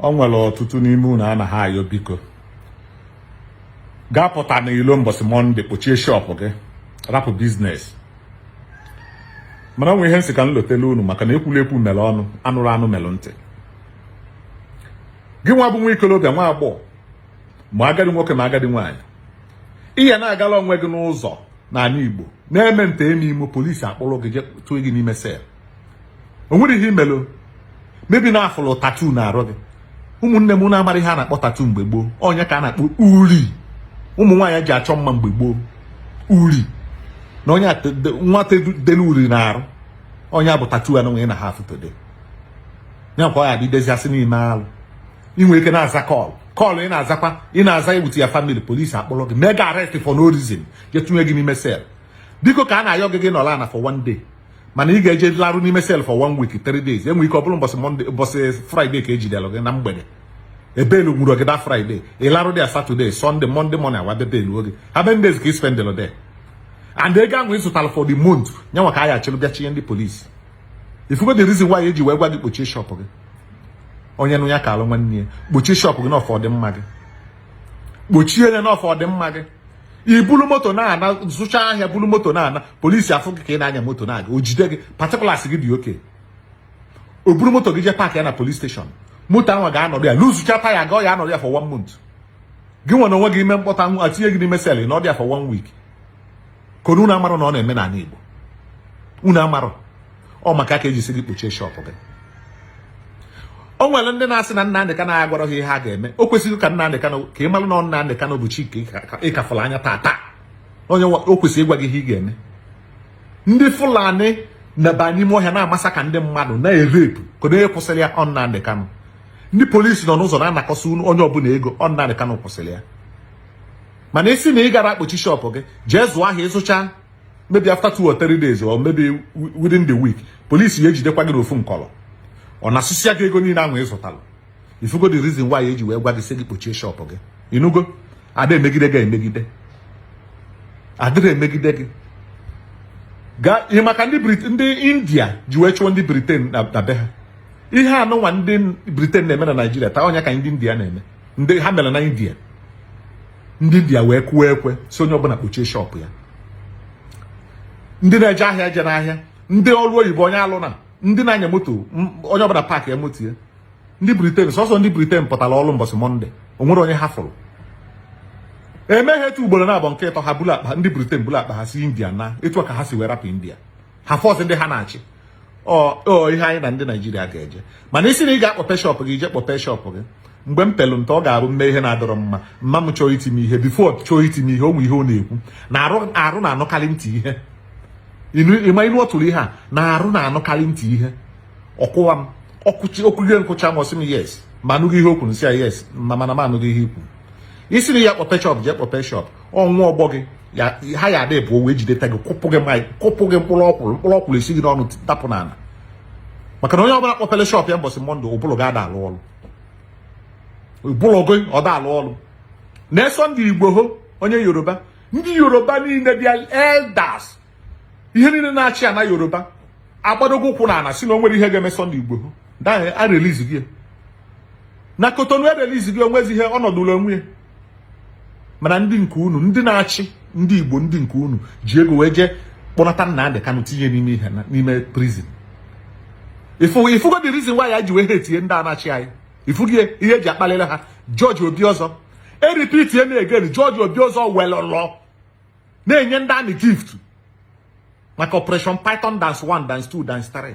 o nwere ọtụtụ n'ime unu a na-ayọ biko gị apụtana ilo mbọsị mọnde kpochie shop gị rapụ business mana o nwe ihe m sị ka m lotele unu maka na ekwulu ekwu mere ọnụ anụrụ anụ mere ntị gị nwa bụ nwa ikolobịa nwa agbọghọ ma agadi nwoke ma agadi nwaanyị ị ya na-agala onwe gị n'ụzọ n'ani Igbo na-eme nta eme imo polisi akpọrọ gị jee tụọ gị n'ime cell o nwerọ ihe i melu maybe na a fụlụ tattoo na arụ gị ụmụnne m na-amarọ ihe a na-akpọ tattoo mgbe gboo ọ nya ka a na-akpọ uri ụmụ nwaanyị ji achọ mma mgbe gboo uri na onye nwata delu uri na arụ ọ nya bụ tattoo anụnwa ị na-afụ today ya kwa ọ ya dịdezi asị n'ime alụ i nwee ike na-aza kọlụ kọlụ ị na-azakwa ị na-aza egbutu ya family polisi akpọrọ gị mee gị arrest for no reason jee tụnye gị n'ime cell biko ka a na-ayọ gị gị nọlụ ana for one day mana ị ga-eje larụ n'ime cell for one week three days e nwee ike ọ bụrụ mbọsị mọnde mbọsị fraịde ka e jidere gị na mgbede e welu nwụrụ gị that fraịde ị larụ there satọde sọnde mọnde mọnde a wee bịa bail gị how many days ka ị spendịlụ there and ego ahụ ị zụtara for the month nyanwa ka a ya achịrị bịa chinye ndị polisi ị fụgo the reason why e ji wee gwa gị kpochie shop gị onye nụ ya kalụ nwanne ya kpochie shop gị na ọ for ọdịmma gị kpochie ya na ọ for ọdịmma gị i bulu moto na-ana zụcha ahịa bulu moto na-ana polisi afụ gị ka ị na-anya moto na-aga o jide gị particulars gị dị okay o buru moto gị jee park ya na police station moto ahụ ga-anọdụ ya luzucha taya ga ọ ya anọdụ ya for one month gị nwa n'onwe gị i mee mkpọtụ a tinye gị n'ime cell ị nọdụ ya for one week ka ọ na unu amarọ na ọ na-eme n'ani Igbo unu amarọ ọ maka ka e ji sị gị kpochie shop gị o nwere ndị na-asị na Nnamdị Kanu agwarọ ha ihe ha ga-eme o kwesịrị ka Nnamdị Kanu ka ị malụ na ọ Nnamdị Kanu bụ chi ị ka fụrụ anya taa taa onye o kwesịrị ịgwa gị ihe ị ga-eme ndị Fulani na-aba n'ime ọhịa na-amasaka ndị mmadụ na-erepu kedụ onye kwụsịrị ya ọ Nnamdị Kanu ndị polisi nọ n'ụzọ na-anakọsị onye ọbụla ego ọ Nnamdị Kanu kwụsịrị ya mana ị sị na ị garọ akpochi shop gị jee zụọ ahịa ị zụcha maybe after two or three days or maybe within the week polisi ya ejidekwa gị n'ofu nkọrọ ọ nasịa gị ego niile ahụ ị zụtara ị fụgo the reason why e ji wee gwa gị sị gị kpochie shop gị ị nụgo a da-emegide gị emegide a dịrọ emegide gị gaa ihe maka ndị ndị india ji wee chụọ ndị Britain na be ha ihe anụnwa ndị Britain na-eme na naijiria taa ọ nya ka ndị india na-eme ndị ha mere na india ndị india wee kụọ ekwe sị onye ọbụla kpochie shop ya ndị na-eje ahịa ejena ahịa ndị ọrụ oyibo onye alụna ndị na-anya moto onye ọbụla paakịe moto ya ndị Britain sọsọ ndị Britain pụtara ọrụ mbọsị mọnde o nwerọ onye ha fụrụ e mee ha etu a ugboro naabọ nke ịtọ ha buru akpa ndị Britain buru akpa ha si india naa etu a ka ha si wee rapụ india ha fọs ndị ha na-achị ọ ihe anyị na ndị naijiria ga-eje mana ị sị na ị ga-akpọpe shọpụ gị ije kpọpe shọpụ gị mgbe m pelụ nta ọ ga-abụ m mee ihe na-adịrọ mma mma m chọọ iti m ihe bifo chọọ iti m ihe o nwe ihe ọ na-ekwu na arụ na-anụkarị ntị ihe ịma inu ọ tụrụ ihe a na arụ na-anụkarị ntị ihe ọ kụwa m ọkụchi okwuge nkụcha m ọ sị m yes ma anụghị ihe o kwuru m sị ya yes mana m anụghị ihe i kwu ị sị na ị ga-akpọpe shọp jee kpọpe shọp ọnwa ọgbọ gị ha ya adị bụ owe jideta gị kụpụ gị maị kụpụ gị mkpụrụ ọkwụrụ mkpụrụ ọkwụrụ esi gị n'ọnụ tapụ n'ala maka na onye ọbụla kpọpere shọp ya mbọsị mọnde ụbụlụ gị ada alụ ọrụ ụbụlụ gị ọ da alụ ọrụ na Sunday Igboho onye yoruba ndị yoruba niile bịa elders ihe niile na-achị ana yoruba agbadogo ụkwụ na ana si na o nwerọ ihe ga-eme Sunday Igboho taa erelizigo ya na kotonu erelizigo ya onwezi ihe ọ nọdụlụ onwe ya mana ndị nke unu ndị na-achị ndị Igbo ndị nke unu ji ego wee jee kpọnata Nnamdi Kanu tinye n'ime ihe na n'ime prizin ifugo the reason why anyị ji wee hetie ndị a na-achị anyị ifugo ihe eji akpalịla ha George Obiozor eripitie na egen George Obiozor welụlụ na-enye ndị amị gift maka operation python dance 1 dance 2 dance 3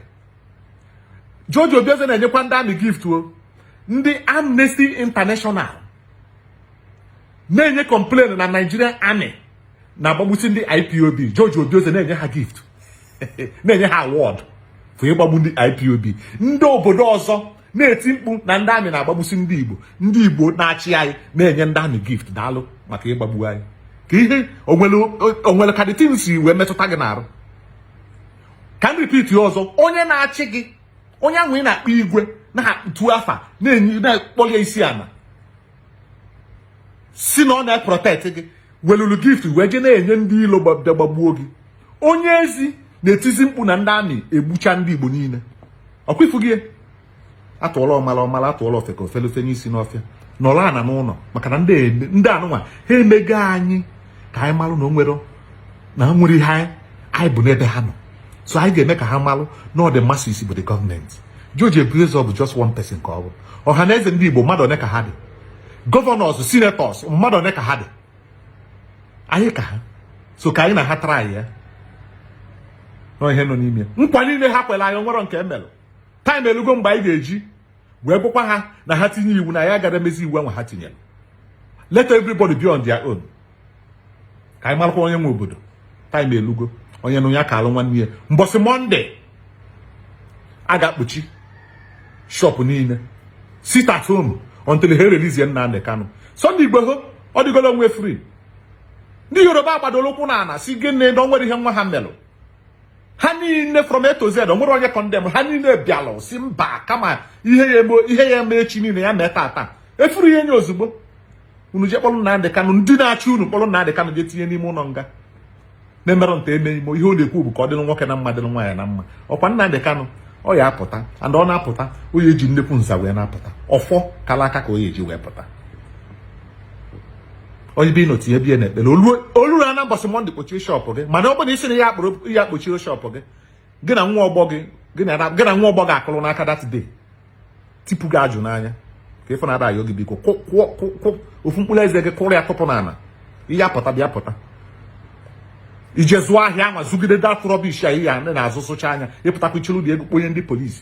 George Obiozor na-enyekwa ndị amị gift o ndị Amnesty International na-enye complain na Nigerian Army na-agbagbusi ndị IPOB George Obiozor na-enye ha gift na-enye ha award for ịgbagbu ndị IPOB ndị obodo ọzọ na-eti mkpu na ndị amị na-agbagbusi ndị Igbo ndị Igbo na-achị anyị na-enye ndị amị gift daalụ maka ịgbagbu anyị ka ihe o nwere ka the thing si wee metụta gị n'arụ ka m ripiti ọzọ onye na-achị gị onye ahụ ị na-akpọ igwe na-etu afa na-enye na-akpọlụ ya isi ana si na ọ na-eprotect gị welulu gift wee je na-enye ndị ilo bịa gbagbuo gị onye ezi na-etizi mkpu na ndị amị egbucha ndị igbo niile ọkwa ifugo ya atụọla ọmala ọ mala atụọla ofeke o fele fenye isi n'ọfịa nọrọ ana n'ụnọ maka na ndị anụnwa ha emego anyị ka anyị malụ na o nwere na o nwerọ ihe anyị bụ n'ebe ha nọ so anyị ga-eme ka ha malụ na ọ the masses bụ the gọọmenti George Obiozor bụ just one person ka ọ bụ Ọhanaeze ndị Igbo mmadụ one ka ha dị gọvanọs sinetọs mmadụ one ka ha dị anyị ka ha so ka anyị na ha traịa n'ihe nọ n'ime nkwa niile ha kwere anyị o nwerọ nke emelụ taịm elugo mgbe anyị ga-eji wee gwakwa ha na ha tinye iwu na anyị agarọ emezi iwu ahụ ha tinyere let everybody be on their own ka anyị malụkwa onye nwe obodo taịm elugo onye nụ ya kaalụ nwanne ya mbọsị mọnde a ga-akpọchi shọpụ niile sit at home until ha relizie Nnamdi Kanu Sunday Igboho ọ dịgolo onwe free ndị Yoruba agbadoro ụkwụ n'ana si gịnị na o nwerọ ihe nwa ha melụ ha niile from A to Z o nwere onye condemn ha niile bịalụ sị mba kama ihe ya-eme ihe ya-eme echi niile ya mee tata efuru ihe nye ozugbo unu je kpọrọ Nnamdị Kanụ ndị na-achị unu kpọrọ Nnamdị Kanụ je tinye n'ime ụlọ nga na emerọ nta eme imo ihe ọ na-ekwu bụ ka ọ dịrị nwoke na mma dịrị nwaanyị na mma ọ kwa Nnamdị Kanụ ọ ya-apụta and ọ na-apụta o ya-eji nnekwu nza wee na-apụta ọfọ kala aka ka o ya-eji wee pụta onye be ịnọtu ya bie na ekpere o luru na mbọsị Monday kpochie shop gị mana ọ bụrụ na ị sị na ya kpụrụ ya kpochie shop gị gị na nwa ọgbọ gị gị na nwa ọgbọ gị akụrụ n'aka that day tipụ gị ajụ n'anya ka ị fụ na a da-ayọ gị biko kụọ ofu mkpụrụ eze gị kụrụ ya tụpụ n'ala ị ya-apụta bịa pụta i je zụọ ahịa ma zụgide that rubbish a ihe a na-azụ zụchaa ya ị pụtakwa ị chịlụ dị ego kponye ndị police